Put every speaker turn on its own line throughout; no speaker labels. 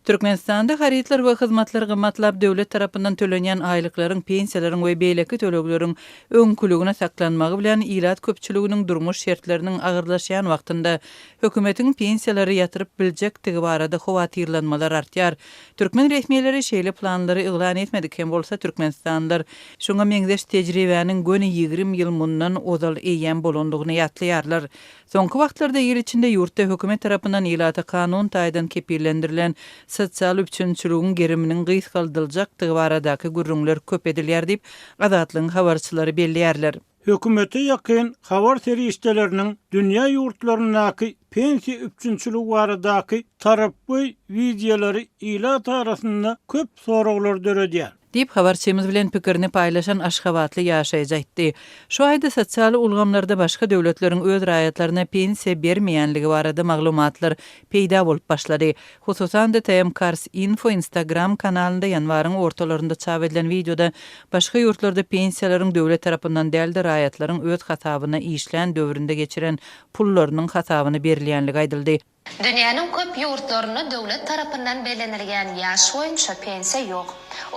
Türkmenistanda harytlar we hyzmatlar gymmatlap, döwlet tarapyndan tölenýän aýlyklaryň, pensiýalaryň we beýleki tölegleriň öňküligine saklanmagy bilen, ilat köpçüliginiň durmuş şertleriniň agyrlaşýan wagtynda hökümetiň pensiýalary ýatyryp biljekdigi barada howatyrlanmalar artýar. Türkmen resmileri şeýle planlary yglan etmedik hem bolsa, türkmenistanlylar şuňa meňzeş tejribäniň göni ýigrimi ýyl mundan ozal eýýäm bolandygyny ýatlaýarlar. Soňky wagtlarda il içinde ýurtda hökümet tarapyndan ilata kanun taýdan kepillendirilen sosial üpjünçiligiň geriminiň gysgaldyljakdygy baradaky gürrüňler köp edilýär diýip, Azatlygyň habarçylary belleýärler. Hökümete
ýakyn habar serişdeleriniň dünýä ýurtlaryndaky pensiýa üpjünçiligi baradaky tarapgöý wideolary ilat arasynda köp soraglar döredýär. Diýip, habarçymyz
bilen pikirini paýlaşan aşgabatly ýaşaýjy aýtdy. Şu aýda sosial ulgamlarda başga döwletleriň öz raýatlaryna pensiýa bermeýänligi barada maglumatlar peýda bolup başlady. Hususan-da, TM Cars Info Instagram kanalynda ýanwaryň ortalarynda çap edilen wideoda başga ýurtlarda pensiýalaryň döwlet tarapyndan däl-de raýatlaryň öz hasabyna işlän döwründe geçiren pullarynyň hasabyna berilýänligi aýdyldy. Dünýäniň köp
ýurtlarynda döwlet tarapyndan bellenilýän ýaş boýunça pensiýa ýok.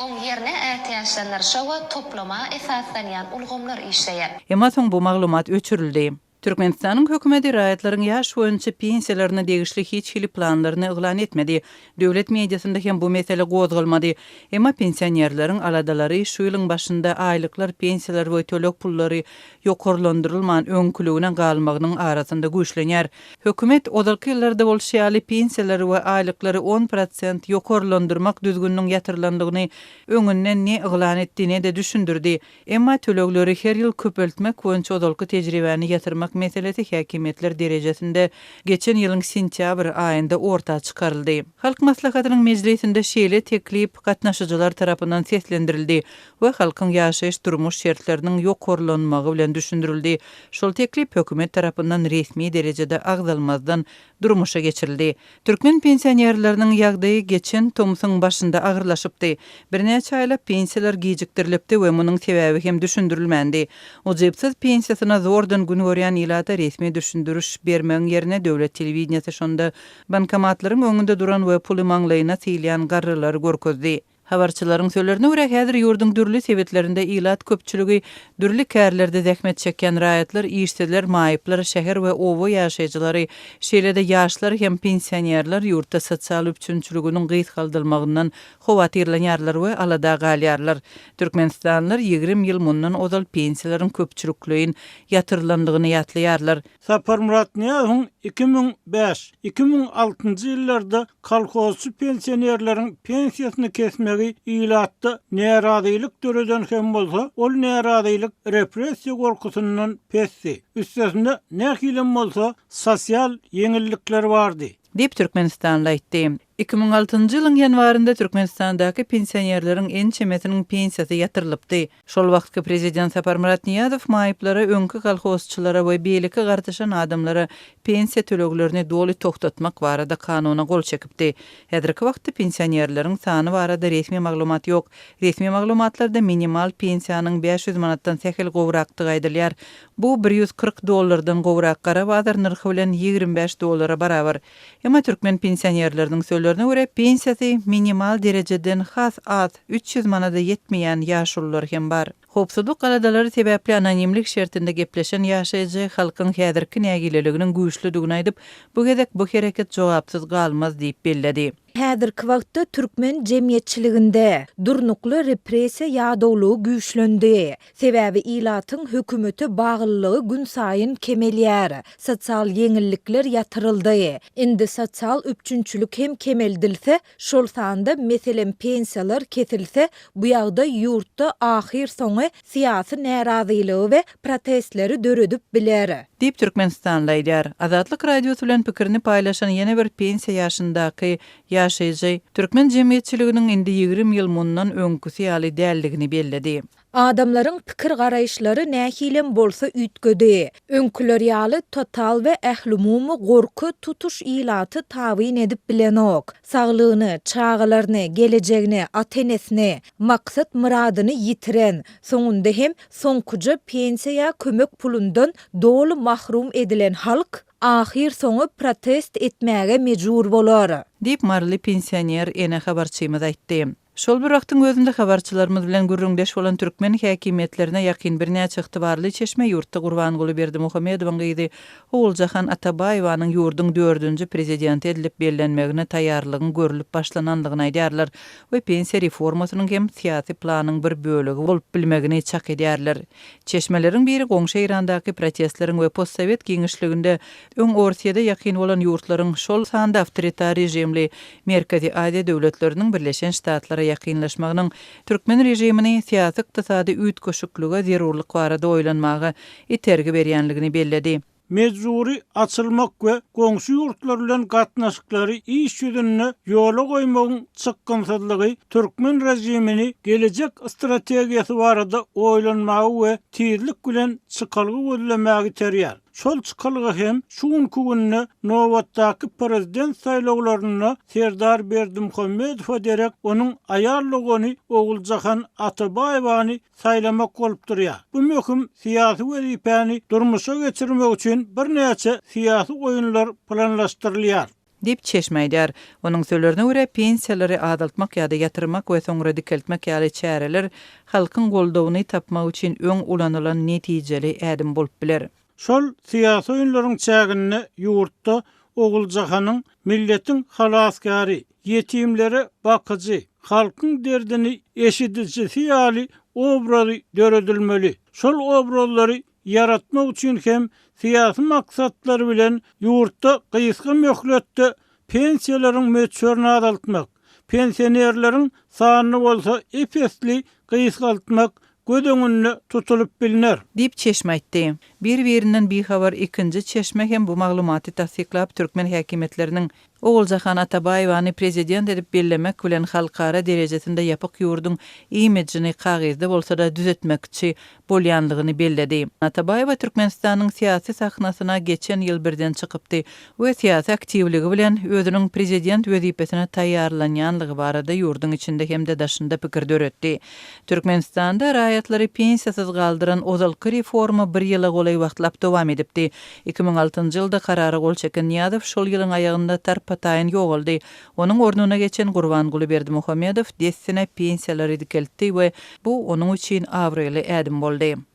Oň ýerine ätiýaçlandyryşa we toplama esaslanýan ulgamlar işleýär. Emma soň bu maglumat
öçürildi. Türkmenistanyň hökümeti raýatlaryň ýaş boýunça pensiýalaryna degişli hiç hili planlaryny yglan etmedi. Döwlet mediasynda hem bu mesele gozgalmady. Emma pensionerleriň aladalary şu ýylyň başynda aýlyklar, pensiýalar we töleg pullary ýokarlandyrylman, öňküligine galmagynyň arasynda güýçlenýär. Hökümet, ozalky ýyllarda bolşy ýaly, pensiýalary we aýlyklary on prosent ýokarlandyrmak düzgüniniň ýatyrylandygyny öňünden ne yglan etdi, ne-de düşündirdi. Emma tölegleri her ýyl köpeltmek boýunça ozalky tejribäni ýatyrmak meselesi häkimiýetler derejesinde geçen ýylyň sentýabr aýynda orta çykaryldy. Halk Maslahatynyň mejlisinde şeýle teklip gatnaşyjylar tarapyndan seslendirildi we halkyň ýaşaýyş-durmuş şertleriniň ýokarlanmagy bilen düşündirildi. Şol teklip hökümet tarapyndan resmi derejede agzalmazdan durmuşa geçirildi. Türkmen pensionerleriniň ýagdaýy geçen tomsuň başynda agyrlaşypdy. Birnäçe aýlap pensiýalar gijikdirilipdi we munuň sebäbi hem düşündirilmändi. Ujypsyz pensiýasyna zordan gün görýän ilata resmi düşündiriş bermegiň ýerine döwlet telewideniýesi şonda bankomatlaryň öňünde duran we puly maňlaýyna sylýan garrylary görkezdi. Habarçylaryň sözlerine görä, häzir ýurduň dürli sebitlerinde ilat köpçüligi, dürli kärlerde zähmet çekýän raýatlar, işsizler, maýyplar, şäher we oba ýaşaýjylary, şeýle-de ýaşlar hem pensionerler ýurtda sosial üpjünçiliginiň gysgaldylmagyndan howatyrlanýarlar we alada galýarlar. Türkmenistanlylar ýigrimi ýyl mundan ozal pensiýalaryň köpçülikleýin ýatyrylandygyny ýatlaýarlar. Sapar
Myratnyýazowyň iki müň bäş, iki müň altynjy ýyllarda kolhozçy pensionerleriň pensiýasyny kesmegi ilatda närazylyk döreden hem bolsa, ol närazylyk repressiýa gorkusyndan pesdi. Üstesine, nähilem bolsa, sosial ýeňillikler bardy. Diýip, türkmenistanly
aýtdy. Iki müň altynjy ýylyň ýanwarynda Türkmenistandaky pensionerleriň ençemesiniň pensiýasy ýatyrylypdy. Şol wagtky prezident Saparmyrat Nyýazow maýyplara, öňki kolhozçylara we beýleki gartaşan adamlara pensiýa töleglerini doly togtatmak barada kanuna gol çekipdi. Häzirki wagtda pensionerleriň sany barada resmi maglumat ýok. Resmi maglumatlarda minimal pensiýanyň bäş ýüz manatdan sähel gowrakdygy aýdylýar. Bu bir ýüz kyrk dollardan gowrak, gara bazar nyrhy bilen ýigrimi bäş dollara barabar. Emma türkmen pensionerleriniň sözlerine görä, pensiýasy minimal derejeden has az, üç ýüz manada ýetmeýän ýaşulular hem bar. Howpsuzlyk galadalary sebäpli anonimlik şertinde gepleşen ýaşaýjy halkyň häzirki nägileliginiň güýçlüdigini aýdyp, bu gezek bu hereket jogapsyz galmaz diýip belledi. Häzirki wagtda
türkmen jemgyýetçiliginde durnukly repressiýa ýadawlygy güýçlendi. Sebäbi ilatyň hökümete baglylygy günsaýyn kemelýär, sosial ýeňillikler ýatyryldy. Indi sosial üpjünçilik hem kemeldilse, şol sanda, meselem, pensiýalar kesilse, bu ýagdaý ýurtda ahyrsoňy syýasy närazylygy we protestleri döredip biler. Diýip, türkmenistanly
aýdýar. Azatlyk Radiosy bilen pikirini paýlaşan ýene bir pensiýa ýaşyndaky ýaşaýjy türkmen jemgyýetçiliginiň indi ýigrimi ýyl mundan öňküsi ýaly däldigini belledi. Adamlaryň
pikir-garaýyşlary nähilem bolsa üýtgedi. Öňküler ýaly total we ählumumy gorky tutuş ilaty tabyn edip bilenok. Saglygyny, çagalaryny, gelejegini, ata-enesini, maksat-myradyny ýitiren, soňunda hem soňkuja pensiýa ýa kömek pulundan doly mahrum edilen halk ahyrsoňy protest etmäge mejbur bolar. Diýip,
maryly pensioner ene habarçymyz aýtdy. Şol bir wagtyň özünde habarçylarymyz bilen gürrüňdeş bolan türkmen häkimiýetlerine ýakyn birnäçe ygtybarly çeşme ýurtda Gurbanguly Berdimuhamedowyň gyzy Oguljahan Atabaýewanyň ýurduň dördünji prezidenti edilip bellenmegine taýýarlygyň görülip başlanandygyny aýdýarlar. we pensiýa reformasynyň hem syýasy planyň bir bölegi bolup bilmegini çak edýärler. Çeşmeleriň biri goňşy Eýrandaky protestleriň we postsowet giňişliginde öň Orsýede ýakyn bolan ýurtlaryň, şol sanda awtoritar režimli Merkezi Aziýa döwletleriniň Birleşen Ştatlara ýakynlaşmagynyň türkmen režimini syýasy-ykdysady üýtgeşiklige zerurlyk barada oýlanmaga itergi berýänligini belledi. mejbury
açylmak we goňşy ýurtlar bilen gatnaşyklary iş ýüzünde ýola goýmagyň çykgynsyzlygy türkmen režimini gelejek strategiýasy barada oýlanmaga we tizlik bilen çykalga gözlemäge iterýär. Şol çykalga hem şu günki günde nobatdaky prezident saýlawlarynda Serdar Berdimuhamedowa derek onuň aýal dogany Oguljahan Atabaýewany saýlamak bolup durýar. Bu möhüm syýasy wezipäni durmuşa geçirmek üçin birnäçe syýasy oýunlar planlaşdyrylýar. Diýip, çeşme
aýdýar. Onuň sözlerine görä, pensiýalary azaltmak ýa-da ýatyrmak we soňra dikeltmek ýaly çäreler halkyň goldawyny tapmak üçin öň ulanylan netijeli ädim bolup biler. Şol syýasy
oýunlaryň çäginde ýurtda Oguljahanyň milletiň halasgäri, ýetimlere bakyjy, halkyň derdini eşidijisi ýaly obrazy döredilmeli. Şol obrazlary ýaratmak üçin hem syýasy maksatlar bilen ýurtda gysga möhletde pensiýalaryň möçberini azaltmak, pensionerleriň sanyny bolsa ep-esli gysgaltmak göz öňünde tutulyp bilner. Diýip, çeşme aýtdy.
Bir-birinden bihabar ikinji çeşme hem bu maglumaty tassyklap, türkmen häkimiýetleriniň Oguljahan Atabaýewany prezident edip bellemek bilen halkara derejesinde ýapyk ýurduň imidžini kagyzda bolsa-da düzetmekçi bolýanlygyny belledi. Atabaýewa Türkmenistanyň syýasy sahnasyna geçen ýyl birden çykypdy we syýasy aktiwligi bilen özüniň prezident wezipesine taýýarlanýanlygy barada ýurduň içinde hem-de daşynda pikir döretdi. Türkmenistanda raýatlary pensiýasyz galdyran ozalky reforma bir ýyla golaý wagtlap dowam edipdi. Iki müň altynjy ýylda karara gol çeken Nyýazow şol ýylyň aýagynda tarpa-taýyn ýogaldy. Onuň ornuna geçen Gurbanguly Berdimuhamedow dessine pensiýalary dikeltdi we bu onuň üçin abraýly ädim boldy.